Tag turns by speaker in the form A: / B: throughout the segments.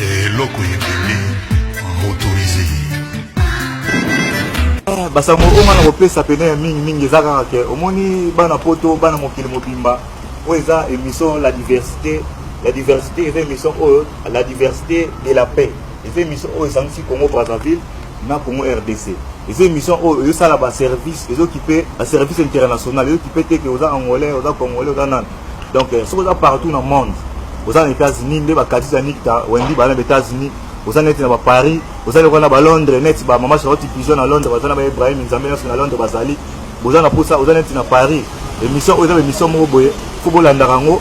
A: eloko ebele motorise ah,
B: basango oyo nga na kopesa pene ya mingi mingi eza kaka ke omoni bana poto bana mokili mobimba oyo eza émission la diversité la diversité eza émission oyo la diversité de la paix eza émission oyo esangisi congo brazzaville na congo rdc eza émission oyo ezosala baservice ezokipe baservice international ezokipe te ke oza angolais oza congolais oza nani donc euh, soki oza partout na monde oza na états-unis nde bakatisi ya nikta wendi bana na états-unis oza neti na baparis oza lokola na balondres neti bamama charlotte pigeon na londres baza na ba ibrahim nzambe nyonso na londres bazali boza na mposa oza neti na paris émission oyo eza baémission moko boye fo bolandaka yango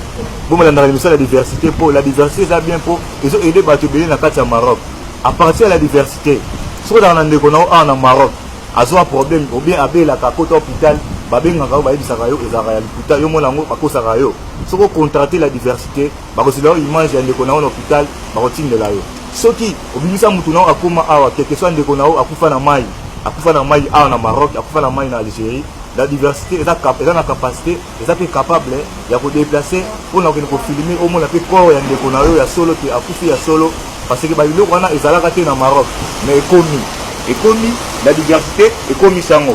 B: bomolandaka émission ya la diversité mpo la diversité eza bien mpo ezo aide bato ebele na kati ya maroc à partir ya la diversité soki ozalaka na ndeko na yo awa na maroc azwa problème ou bien abelaka akota hôpital babengaka yo bayebisaka yo ezalaka ya lokuta yo mona yango bakosaka yo soki ocontrate la diversité bakozela yo image ya ndeko na yo na hôpital bakotindela yo soki obimisa motu na yo akóma awa quelque soit ndeko na yo akufa na mai akufa na mai awa na maroc akufa na mai na algérie la diversité eza, eza na capacité eza mpe capable ya kodeplace mpo na kokende kofilme omona mpe corps ya ndeko na yo ya solo te akufi ya solo parce que babiloko wana ezalaka te na maroc mais ekomi ekomi la diversité ekomi sango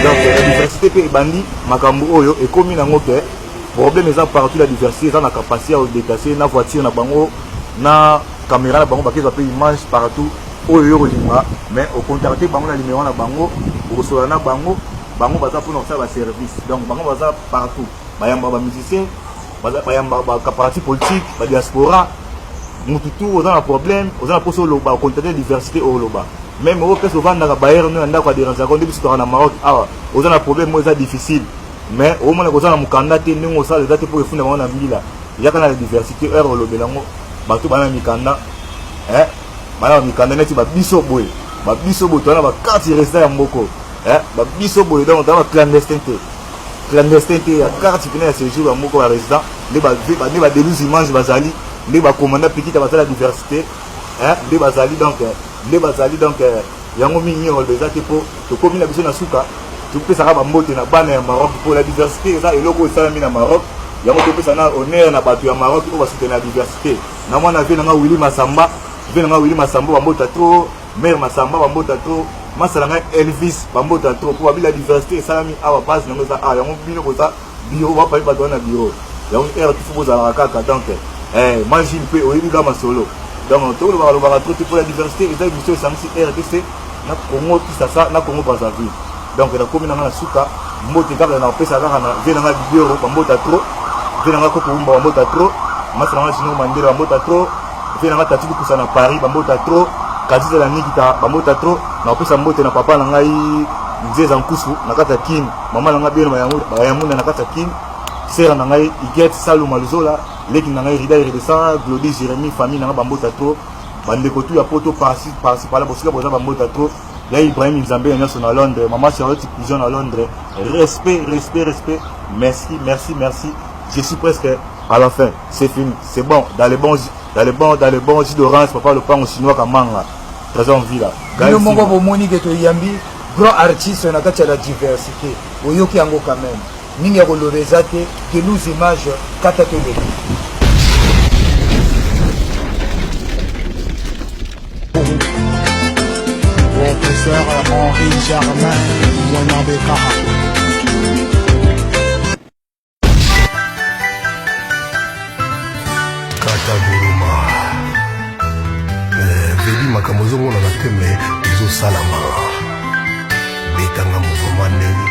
B: donc la diversité mpe ebandi makambo oyo ekomi nango ke problème eza partout la diversité eza na capacité ya kodeplace na voiture na bango na caméra na bango bakezwa mpe image partout oyo yo olinga mais ocontacte bango na limero na bango okosola na bango bango baza mpona kosala baservice donc bango baza partout bayamba bamusicien bayamba baparti politique badiaspora mutu tu oza na problème oza na mposa oloba ocontacte diversité oyo oloba meme oyo place ovandaka bayere no ya ndako ya derange yango nde biso toka na maroc awa oza na problème oyo eza difficile mais omona koza na mokanda te ndenge osala eza te mpo efunda bango na mbila yaka na diversité heure olobela yango bato bana mikanda eh? bana ba mikanda neti ba biso boye ba biso boye toana ba carte resident ya mboko eh, ba biso boye donc toana ba clandestin te clandestin te ya carte pene ya séjour ya mboko ya résident nde ba deluge image bazali nde ba commanda pikita bazali ya diversité eh, nde bazali donc eh, nde bazali donc yango mingi mingi oloba eza te mpo tokomi na biso na suka topesaka bambote na bana ya maroc mpo la diversité eza eloko oyo esalami na maroc yango topesa na honneur na bato ya maroc oyo basutena ya diversité Na mwana vie na nga Willy Masamba, vie na nga Willy Masamba bambota trop, mère Masamba bambota trop, masa na nga Elvis bambota trop po babila diversité esalami awa base na yango eza awa yango bino boza biro bapali bato wana biro yango heure tufu bozalaka kaka donc eh, majil mpe oyebi ga masolo donc tolobaka lobaka trop te mpo ya diversité eza émission esangisi rdc na Congo Kisasa na Congo Brazzaville donc na komi na nga na suka mbote kaka na pesa kaka na vie na nga bibioro ba mbota trop vie na nga koko umba ba mbota trop masa na nga jino mandela ba mbota trop vie na nga tati kusa na Paris ba mbota trop kadisa na nikita ba mbota trop na pesa mbote na papa na ngai nzeza nkusu na kata kin mama na nga bino ba yango ba yango na kata kin sera na ngai iget saluma luzola leki na ngai rida iredesa glodi jeremie famille na nga ba mbota trop bandeko tu ya poto parsi parsi pala bosika boza bambota trop ya ibrahim nzambe ya nyonso na londres mama charlotte pigeon na londres respect respect respect merci merci merci je suis presque à la fin c'est fini c'est bon dans les bons dans les bons dans les bons jus d'orange papa lopango chinois kamanga trésor villa bino moko bomoni
C: ke toyambi grand artiste na kati ya la diversité oyoki yango quand même Nini ya koloba eza te, de nous images, kata to leka.
D: Professeur Henri Germain, Mwana Bekaha.
A: makambo ezongona na te me ezosalama betanga mouvement ndenge